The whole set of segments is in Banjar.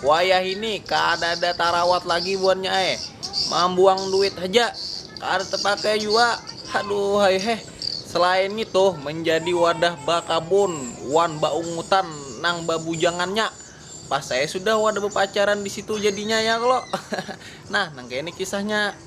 Wayah ini kadada tarawat lagi buhannya ai, mambuang duit haja, kada tapakai jua, haduhai heh. Selain ngitu, manjadi wadah bakabun wan baungutan nang babujangannya, pas ai sudah wadah bapacaran di situ jadinya ya kalo. Nah, nang kaya ini kisahnya.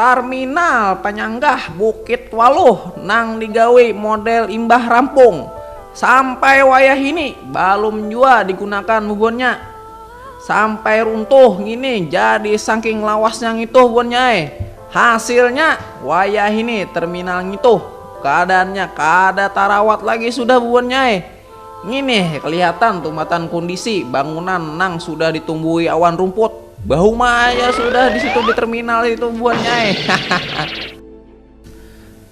Tarminal panyanggah Bukit Waluh nang digawi model imbah rampung, sampai wayahini balum jua digunakan muhunnya. Sampai runtuh ngini jadi sangking lawasnya ngituh buannya ai. Hasilnya, wayahini terminal ngituh kaadaannya kaada tarawat lagi sudah buannya ai. Nginih kelihatan tumatan kundisi bangunan nang sudah ditumbuhi awan rumput. Bahuma aja sudah di situ di terminal itu buannya ai. Hahaha.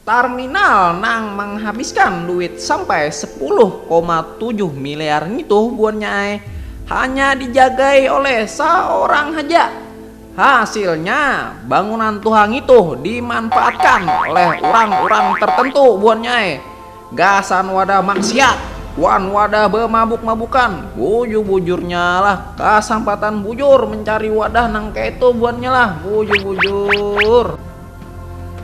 Tarminal nang manghabiskan duit sampai sepuluh koma tujuh miliar ngitu buannya ai, hanya dijagai oleh saorang haja. Hasilnya, bangunan tuha ngitu dimanfaatkan oleh urang-urang tertentu buannya ai, gasan wadah maksiat wan wadah bamabuk-mabukan, buju-bujurnya lah kasampatan bujur mencari wadah nang kaitu buannya lah, buju-bujur.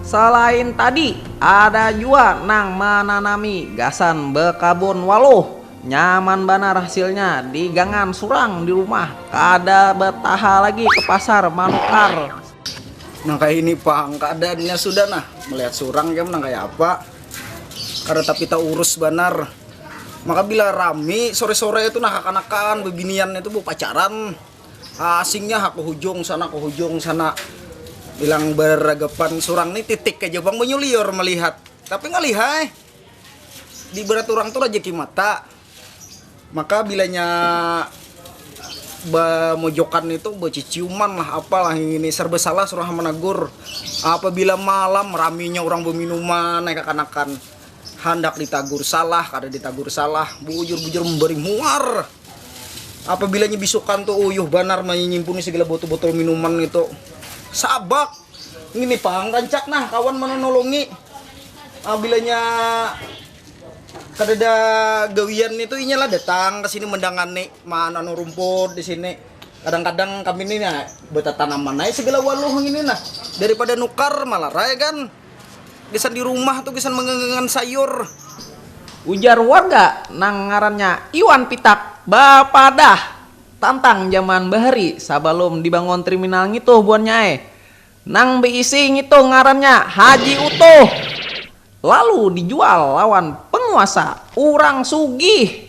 Salain tadi, ada jua nang mananami gasan bekabun waluh. Nyaman banar hasilnya di gangan surang di rumah, kada betaha lagi ke pasar manukar. Nang kaya ini pang keadaannya sudah nah, melihat surang ikam nang kaya apa, kada tapi taurus banar. Maka bila rami sore-sore itu nah kakanakan bebinian itu bepacaran. Asingnya ha kahujung sana kahujung sana bilang baragapan surang ni titik haja pang banyuliur malihat tapi ngalih ai di barat urang tu rajaki mata maka bilanya bamojokan ni tu baciciuman lah apa lah ngini sarba salah surang ha managur apabila malam raminya urang baminuman ai kakanakan handak ditagur salah kada ditagur salah bujur bujur mambari muar. Apabila nya bisukan tu uyuh banar manyimpuni segala botol-botol minuman itu. Sabak. Ngini pang rancak nah kawan mananolongi. Apabila nya kadada gawian itu inya lah datang ke sini mendangani mananu rumput di sini. Kadang-kadang kami ni nah betatanaman ai segala waluh ngini nah daripada nukar malarai kan. Gasan di rumah tu gasan manggangangan sayur. Ujar warga nang ngarannya Iwan Pitak bapadah tantang jaman bahari sabalum dibangun triminal ngituh buannya ai. Nang beisi ngitu ngarannya Haji Utuh. Lalu dijual lawan penguasa urang sugih.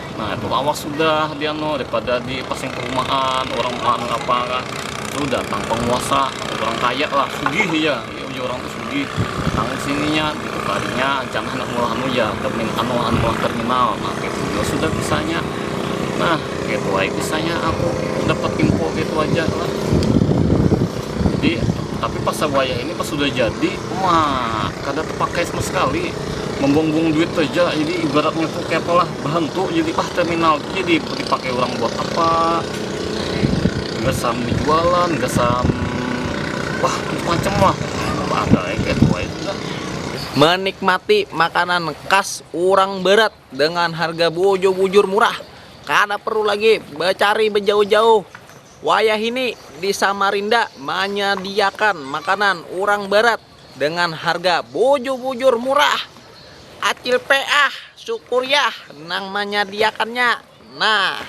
nah itu awas sudah dia no daripada di pasing perumahan orang anu apa kah itu datang penguasa orang kaya lah sugih ya ya uji orang tuh sugih datang ke sininya gitu tadinya jangan hendak mulah anu ya termin anu anu mulah terminal nah kayak gitu ya sudah kisahnya nah kayak itu aja kisahnya aku dapat info kayak itu aja lah jadi tapi pas wayah ini pas sudah jadi wah kada terpakai sama sekali membumbung duit saja jadi ibaratnya tuh kayak pola berhentu jadi ah terminal tuh jadi dipakai orang buat apa nggak sam jualan nggak sam wah macam lah ada kayak tua itu kan menikmati makanan khas orang barat dengan harga bojo bujur murah kada perlu lagi becari bejauh-jauh wayah ini di samarinda manyadiakan makanan orang barat. dengan harga bujur-bujur murah acil PA syukuriah nang manyadiakannya nah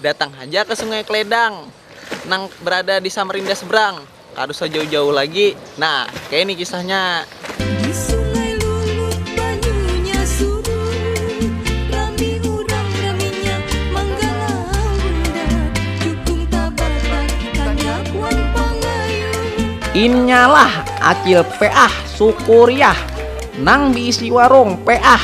datang haja ke sungai kledang nang berada di samarinda seberang kada usah jauh-jauh lagi nah kaya ini kisahnya. Di sungai lulut banyunya surut Rami urang raminya manggalau bundak Jukung tabatak, tandap wan pangayung Inyalah Acil peah Sukuriah nang diisi warung peah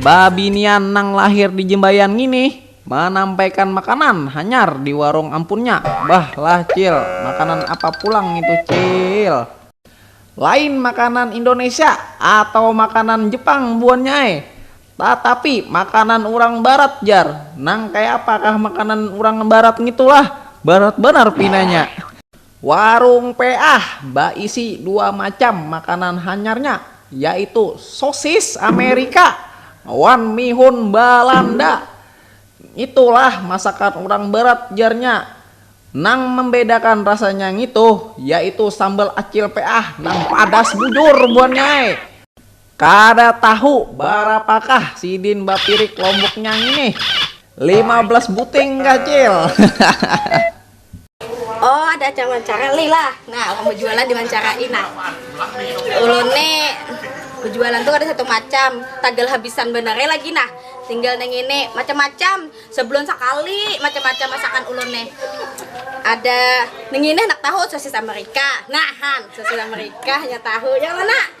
babinian nang lahir di Jembayan ngini manampaikan makanan hanyar di warung ampunnya. Bah lah cil, makanan apa pulang ngitu cil. Lain makanan Indonesia atawa makanan Jepang buannya ai, tatapi makanan urang barat jar, nang kayapakah makanan urang barat ngitu lah, barat banar pinanya. Warung Peah baisi dua macam makanan hanyarnya, yaitu sosis Amerika wan mihun Balanda. Ngitulah masakan urang barat jarnya. Nang mambedakan rasanya ngitu yaitu sambal Acil Peah nang padas bujur buhannya ai. Kada tahu barapakah sidin bapirik lomboknya nginih? Lima belas buting kah Cil? oh ada acara wawancara lah nah orang berjualan diwancarain nah ulun nih berjualan tuh ada satu macam tagal habisan benar lagi nah tinggal neng ini macam-macam sebulan sekali macam-macam masakan ulun nih ada neng ini anak tahu sosis amerika nah han sosis amerika ya tahu yang mana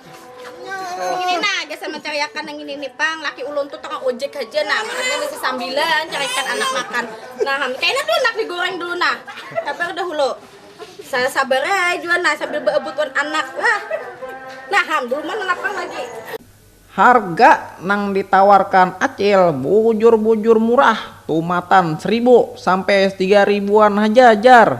Harga nang ditawarkan Acil bujur-bujur murah, tumatan sribu sampai tiga ribuan haja jar.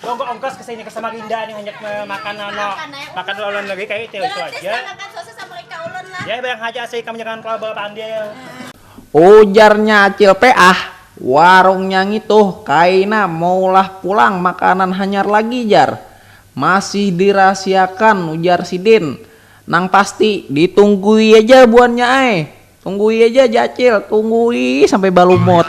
Monggo ongkos ke sini ke Samarinda nih hanjak makan ano makan luar negeri kayak itu itu aja. Ya bayang haja asli kamu jangan terlalu bawa pandil. Ujarnya Acil Peah, warungnya ngituh kaina maulah pulang makanan hanyar lagi jar. Masih dirahasiakan ujar sidin. Nang pasti ditunggui aja buannya ai. Tunggui aja ja Acil, tunggui sampai balumut.